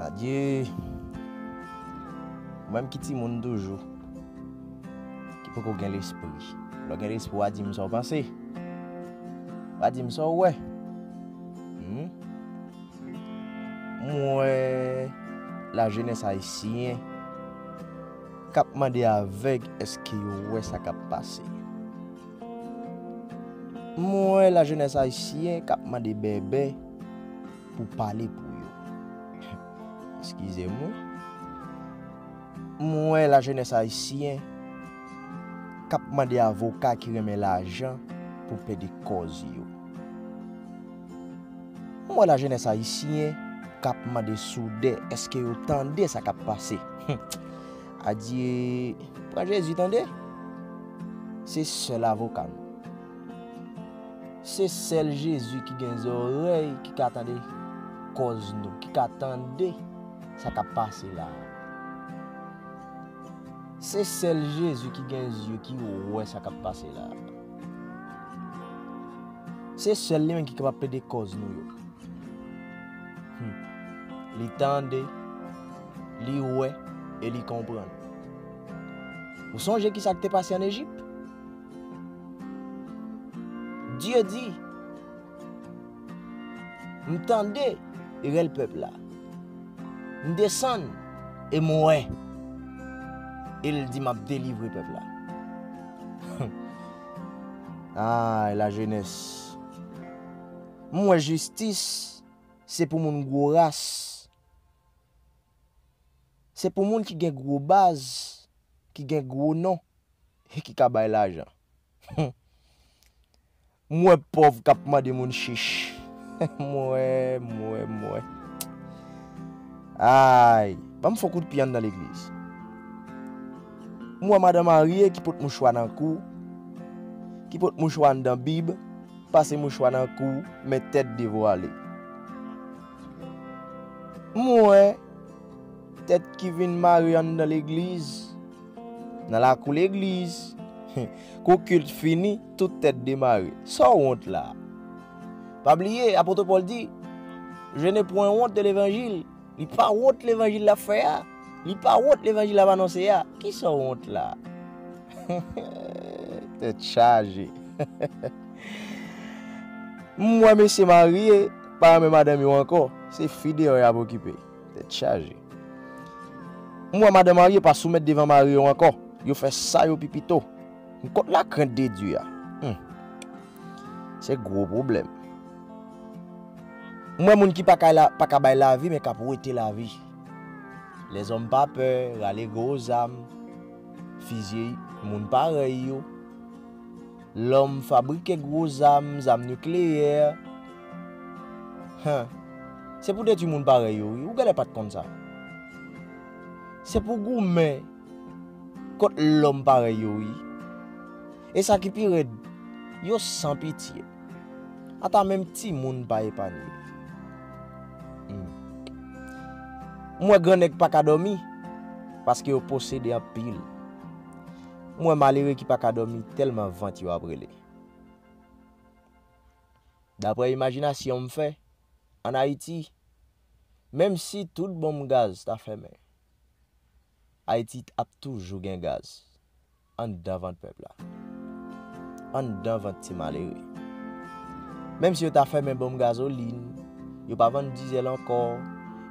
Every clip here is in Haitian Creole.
Adye Mwen m ki timoun toujou. Ki poko gen lespri. Lè w gen lespri w a di m sa w panse. W a di m sa w wè. Hum. M wè la jenès ayisyen k ap mande avèg èske yo wè sa k ap pase. M wè la jenès ayisyen k ap mande bèbè pou pale pou yo. Eskize m wi. M wè la jenès ayisyen kap mande avoka ki renmen lajan pou plede kòz yo. M wè la jenès ayisyen kap mande soudè eske yo tande sa kap pase. Adye, pran Jezi tande. Se sèl avoka nou. Se sèl Jezi ki gen zòrèy ki ka tande kòz nou, ki ka tande. Sa kap pase la. Se sel Jezi ki gen zye ki wè sa kap pase la. Se sel li menm ki kapab plede koz nou yo. Li tande, li wè e li konprann. Ou sonje ki sa ki te pase an Ejip? Dye di. M tande rèl pèp la. M desann e m wè. E l di m ap delivre pèp la. Ay la jenès. M wè jistis se pou moun gwo ras. Se pou moun ki gen gwo baz, ki gen gwo non e ki ka bay lajan. M wè pòv k ap mande moun chich. M wè, m wè, m wè. Ay! Ban m fon kout pye anndan legliz. M wè madan marye ki pot mouchwa nan kou, ki pot mouchwa anndan bib, pase mouchwa nan kou, men tèt devwale. M wè tèt ki vin mare anndan legliz. Nan lakou legliz. Kou kilt fini, tout tèt demare. Sa w wont la? Pa bliye, apot Pòl di, Je ne pwen wont de levanjil. Li pa wont levanjil l ap fè a. Li pa wont levanjil l ap anonse a. Ki sa w wont la? Tèt chaje. M wè mesye marye pa renmen madanm yo ankò. Se fi deyò y ap okipe. Tèt chaje. M wè madan marye pa soumèt devan mari yo ankò. Yo fè sa yo pi pito. M kont la krent de Dye a. Hum. Se gwo pwoblèm. M wè moun ki pa ka, pa ka bay lavi men kap wete lavi. Lèzòm pa pè, rale gwo zam, fizye moun parèy yo. Lòm fabrike gwo zam, zam nikleyè. Huh. Se pou detwi moun parèy yo wi, ou gèlè pat konn sa. Se pou goumen kont lòm parèy yo wi. E sa ki pi rèd, yo san pitye. Ata menm timoun pa epanye. Humm. M wè gran nèg paka dòmi, paske yo posede anpil. M wè malere ki pa ka dòmi tèlman vant yo ap rele. Daprè imajinasyon m fè, ann Ayiti, menm si tout bonm gaz ta fèmen, Ayiti ap toujou gen gaz anndan vant pèp la, anndan vant ti malere. Menm si yo ta fèmen bonm gazolin, Yo pa vann dizèl ankò.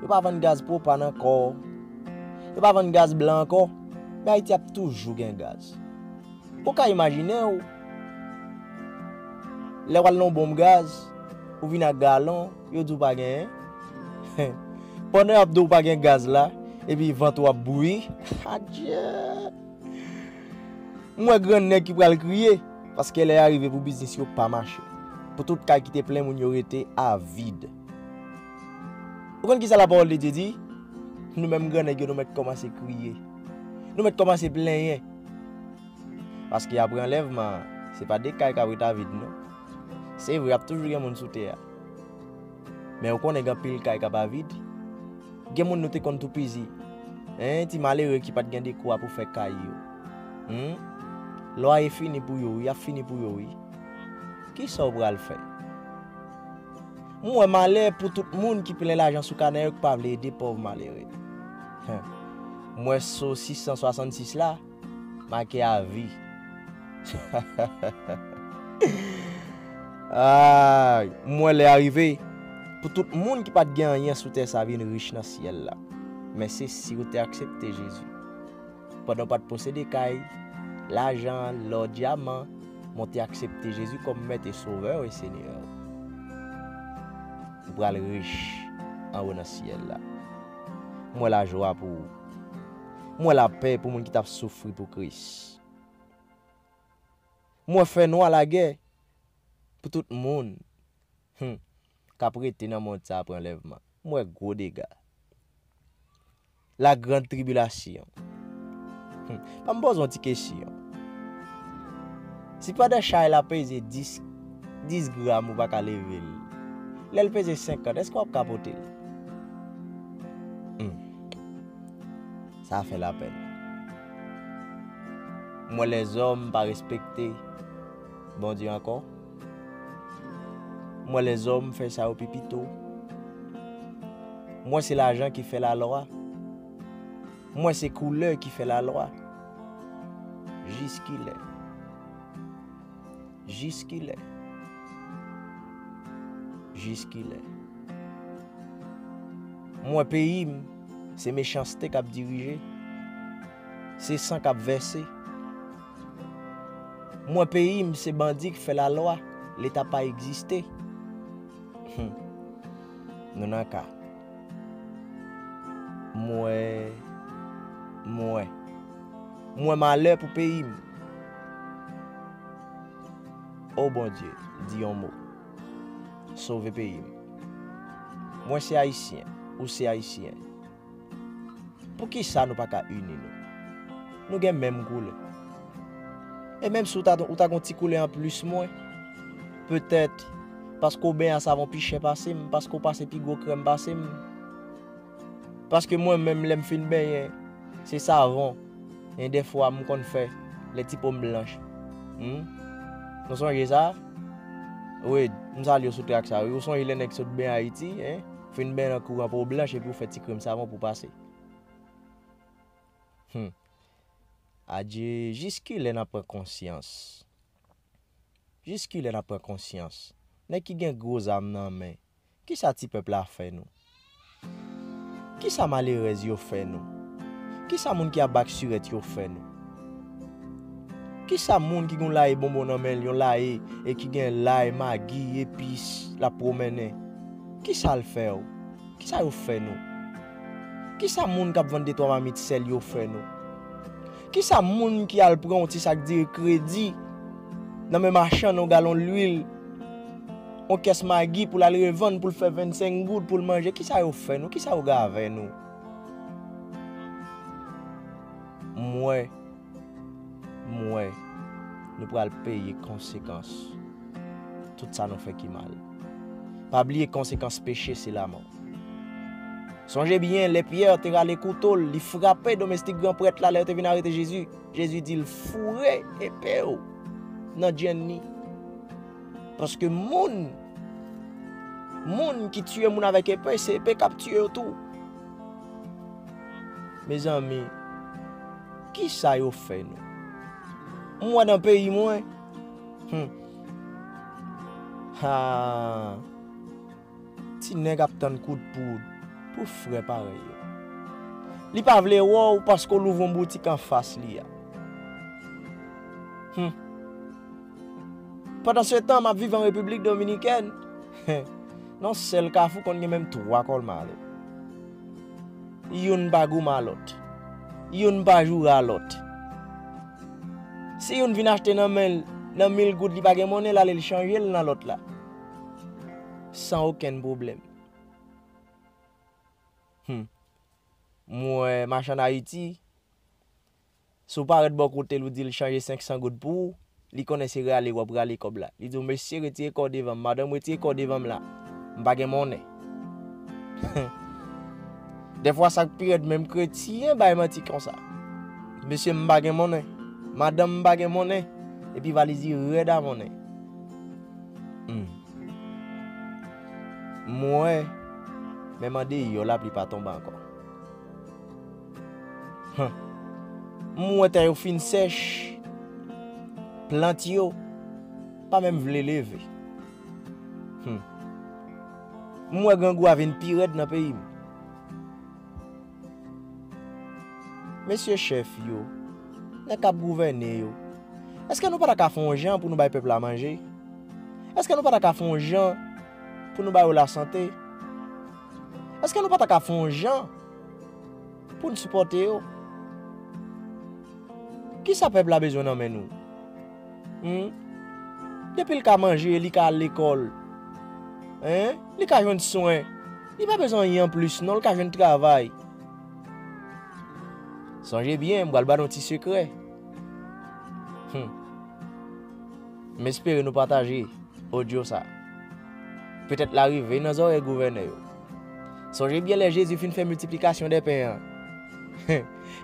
Yo pa vann gaz pwopàn ankò. Yo pa vann gaz blan ankò. Men Ayiti ap toujou gen gaz. Ou ka imajine ou, lè w al nan yon bonm gaz, ou vin ak galon, yo di w pa genyen. Pandan y ap di w pa gen gaz la, epi vant ou ap bouyi. Adjee! M wè gran nèg ki pral kriye paske lè a rive pou biznis yo pa mache. Pou tout kay ki te plen moun yo rete a vid. Ou konn kisa lapawòl de Dye di? Nou menm gran nèg yo nou mèt kòmanse kriye. Nou mèt kòmanse plenyen. Paske apre anlèvman an, se pa de kay k ap ret a vid non. Se vre ap toujou gen moun sou tè a. Men ou konnen gen anpil kay k ap a vid? Gen moun nou te konn toupizi. Hein, ti malere ki pat gen dekwa pou fè kay yo. Humm, lwaye fini pou yo wi, yap fini pou yo wi. Kisa ou pral fè? M wè malè pou tout moun ki plen lajan sou kanè yo ki pa vle ede pòv malere. Huh, m wè so 666 la. Make avi. Aayy! M wè lè a rive pou tout moun ki pa t gen anyen sou tè sa vin rich nan syèl la. Men se si ou te aksepte Jezi. Pandan ou pa t posede kay, lajan, lò, dyaman, men w te aksepte Jezi kòm Mèt e Sovè w e Senyè w. Ou pral rich anwo nan syèl la. M wè lajwa pou ou. M wè lapè pou moun ki t ap soufri pou Kris. M wè fènwa lagè pou tout moun k ap rete nan mond sa apre anlèvman. M wè gwo dega. La grand tribilasyon. Ban m poze yon ti kesyon. Si pandan chay la peze 10 gram ou pa ka leve l, lè l peze 50, èske w ap ka pote l? Sa fè la pèn. Mwen lèzòm pa respekte Bondye ankò. Mwen lèzòm fè sa yo pi pito. Mwen se lajan ki fè la lwa. Mwen se koulè ki fè la lwa. Jiskilè. Jiskilè? Jiskilè? M wè peyi m, se mechanste k ap dirije, se san k ap vèse. M wè peyi m, se bandi k fè lalwa, Leta pa egziste. Nou nan ka. M wè, m wè. Mwen malè pou peyi m. O Bondye, di yon mo. Sove peyi m. Mwen se Ayisyen, ou se Ayisyen. Poukisa nou pa ka ini nou? Nou gen menm koulè. E menm si ou ta gen yon ti koulè anplis mwen, petèt paske ou benyen a savon pi chè pase m, paske ou pase pi gwo krèm pase m, Paske mwen menm lèm fin benyen se savon en dèfwa m konn fè lè ti pom blanch humm nou sonje sa Wade m salyew sou track sa wi ou sonje lè nèg sot benyen ayiti hein fin benyen nan kouran pow blanch epi ou fè ti krèm savon pou pase humm adje jis kilè nap pran konsyans jis kilè nap pran konsyans nèg ki gen gro zam nan men Kisa ti pèp la fè nou? Kisa malerèz yo fè nou? Kisa moun ki ap bak sirèt yo fè nou? Kisa moun ki gen yon laye bonbon nan men l, yon laye e ki gen lay, magi, epis, l ap pwomennen, kisa l fè w? Kisa yo fè nou? Kisa moun k ap vann detwa mamit sèl yo fè nou? Kisa moun ki al pran yon ti sak diri kredi nan men machann yon galon lwil? On kès magi pou l al revann pou l fè 25 goud pou l manje. Ki sa yo fè nou? Ki sa yo gave nou? Mwen, mwen, nou pral peye konsekans tout sa nou fè ki mal. Pa bliye konsekans peche se lamò. Sonje byen, lè Pierre te rale kouto l, li frape domestik gran prèt la lè yo te vin arete Jezi. Jezi di l, foure epe ou nan djenn ni. Paske moun, moun ki tiye moun avèk epe, se epe kap tiye yo tou. Mezanmi, ki sa yo fè nou? Mwen nan peyi mwen, hmm. ha, ti nèg ap tann kout poud pou frè parèy yo. Li pa vle wè ou paske ou louvron boutik an fas li a. Hmm. Pandan se tan, m ap viv an Repiblik Dominikèn. Nan yon sèl kafou konn gen menm 3 kòlmare. Youn pa gouman lòt. Youn pa joura lòt. Si youn vin achte nan men l, nan mil goud li pa gen monnen l ale l chanje l nan lòt la. San okenn pwoblèm. Hum. M wè machann Ayiti. Si w pa ret bò kote l ou di l chanje 500 goud pou ou, li konnen se rale w ap rale kòb la. Li di w, Mesye retire kò w devan m, madanm retire kò w devan m la, m pa gen monnen. Dèfwa sa k pi rèd menm kretyen bay manti konsa. Mesye m pa gen monnen, madanm m pa gen monnen, epi valiz li rèd a monnen. M wè, men mande yò la pli pa tonbe ankò. Humm m wè tè yo fin sèch. Plant yo pa menm vle leve. Humm m wè grangou a vin pi rèd nan peyi m. Mesye chèf yo, nèg k ap gouvène yo, èske nou pa ta ka fè yon jan pou nou bay pèp la manje? Èske nou pa ta ka fè yon jan pou nou ba yo lasante? Eske nou pa ta ka fè yon jan pou n sipòte yo? Kisa pèp la bezwen nan men nou? Hum? Depi l ka manje, li ka al lekòl. Hein? Li ka jwenn swen. Li pa bezwen anyen anplis non, li ka jwenn travay. Sonje byen, m pral ba nou ti sekrè. Hum. M espere nou pataje odyo sa. Petèt l a rive nan zòrèy gouvènè yo. Sonje byen lè Jezi fin fè miltiplikasyon de pen an.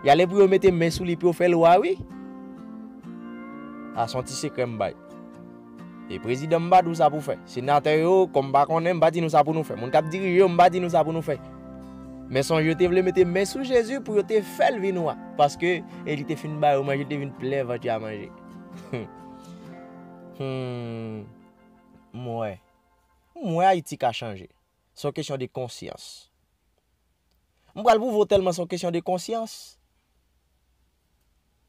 Y ale pou yo mete men sou li pou yo fè l wa wi. Sa se yon ti sekrè m bay. E prezidan m pa di w sa pou w fè. Senatè yo, kòm m pa konnen, m pa di nou sa pou nou fè. Moun k ap dirije yo, m pa di nou sa pou nou fè. Men sonje yo te vle mete men sou Jezi pou yo te fè l vin wa. Paske, e li te fin ba yo manje, li te vin plen vant yo a manje. Hum. M wè. M wè Ayiti ka chanje. Se yon kesyon de konsyans. M pral pwouve w tèlman se yon kesyon de konsyans.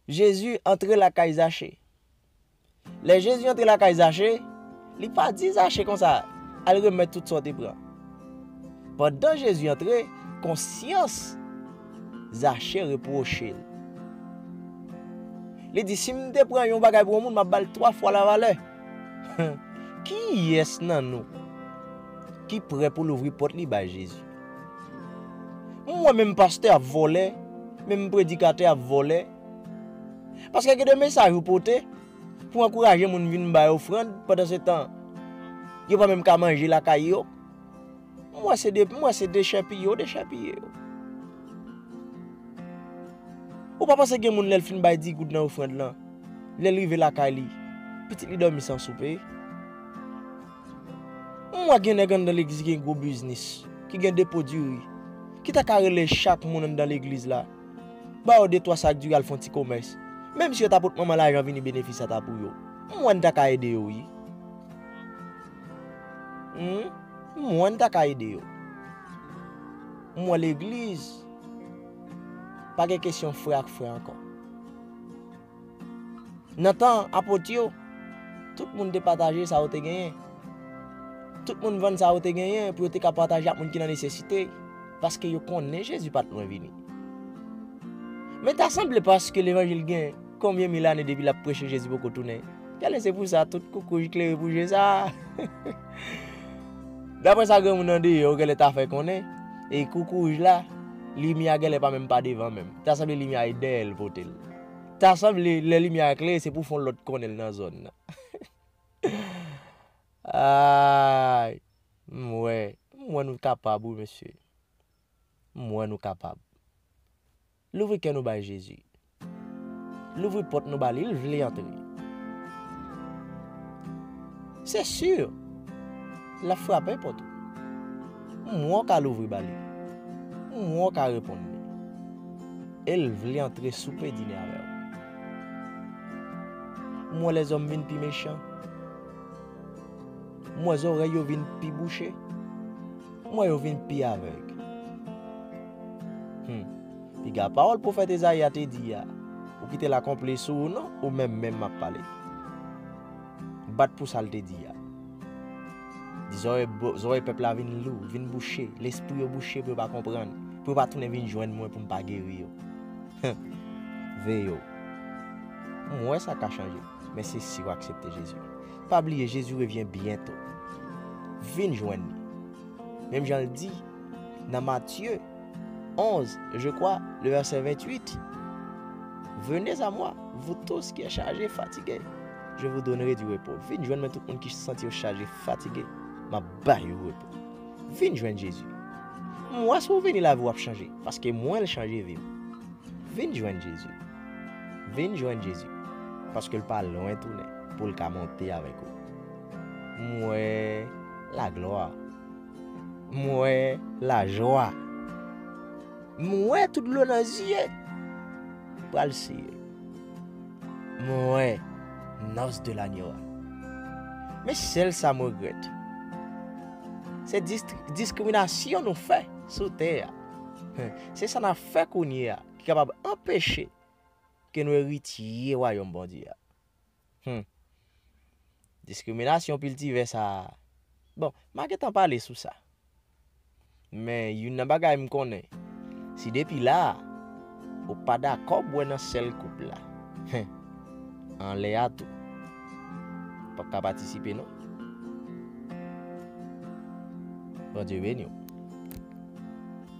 Jezi antre lakay Zache. Lè Jezi antre lakay Zache, li pa di Zache konsa, Al remèt tout sa w te pran. Pandan Jezi antre, konsyans Zache repwoche l. Li di, Si m te pran yon bagay pou yon moun, m ap ba l twa fwa lavalè. Kiyès nan nou ki prè pou louvri pòt li bay Jezi? M wè menm pastè ap vòlè, menm predikatè ap vòlè. Paske gen de mesaj ou pote pou ankouraje moun vin bay ofrand pandan se tan yo pa menm ka manje lakay yo. Mwen se de mwen se dechèpiye yo dechèpiye yo. Ou pa panse gen moun lèl fin bay 10 goud nan ofrand lan, lèl rive lakay li, pitit li dòmi san soupe? M wè gen nèg anndan legliz ki gen gwo biznis, ki gen depo diri, ki ta ka rele chak moun anndan legliz la, ba yo de twa sak diri al fon ti komès, menm si yo ta pot manman lajan vini benefis sa ta pou yo. M wè n ta ka ede yo wi. Humm m wè n ta ka ede yo. M wè legliz pa gen kesyon frè ak frè ankò. Nan tan apot yo, tout moun te pataje sa yo te genyen. Tout moun vann sa yo te genyen pou yo te ka pataje ak moun ki nan nesesite, paske yo konnen Jezi pa t lwen vini. Men ta sanble paske levanjil gen Konbyen mil ane depi lap preche Jezi poko tounen? Tèlè se pou sa tout koukouj klere pou je sa a. Daprè sa granmoun andeyò yo gèlè ta fè konnen, e koukouj la, limyè a gèlè pa menm pa devan menm. Ta sanble limyè a e dèyè l pote l. Ta sanble lè limyè a klere se pou fon lòt konnen l nan zòn nan. Aayy! M wè, m wè nou kapab wi mesye. M wè nou kapab. Louvri kè nou bay Jezi. Louvri pòt nou ba li, l vle antre. Se si, l ap frape pòt ou. M wè w ka louvri ba li. M wè w ka reponn li. E l vle antre soupe dine avè w. M wè lèzòm vin pi mechan. M wè zòrèy yo vin pi bouche. Mwen yo vin pi avèg. Hum. Piga pawòl pwofèt Ezayi a te di a, ou kite l akonpli sou ou non, ou menm menm m ap pale. Bat pou sa l te di a. Di zòrèy zòrèy pèp la vin lou, vin bouche, lespri yo bouche pou yo pa konprann, pou yo pa tounen vin jwenn mwen pou m pa geri yo. Hum. Veye w. M wè sa ka chanje, men se si w aksepte Jezi. Pa bliye Jezi revyen byento. Vin jwenn li. Menm jan l di nan Matye 11, je kwa, le vèsè 28, Venez a mwa, vou tous ki è chaje, fatige, je vou donnere di repo. Vin jwenn mwen tout moun ki santi yo chaje, fatige, m ap bay yo repo. Vin jwenn Jezi. M wè si w vini lavi w ap chanje, paske mwen l chanje vi m. Vin jwenn Jezi. Vin jwenn Jezi, paske l pa lwen tounen pou l ka monte avèk ou. M wè laglwa. M wè lajwa. M wè tout dlo nan zye. Pral siye. M wè nòs de lanyo a. Men sèl sa m regrèt. Se diskriminasyon nou fè sou tè a. Se sa n ap fè kounye a. ki kapab anpeche ke nou eritye wayòm Bondye a. Hum! Diskriminasyon piltive sa a, bon, m a gentan pale sou sa. Men youn nan bagay m konnen, si depi la a, ou pa dakò bwè nan sèl koup la, hen, anlè a tou, ou p ap ka patisipe non. Bondye beni w.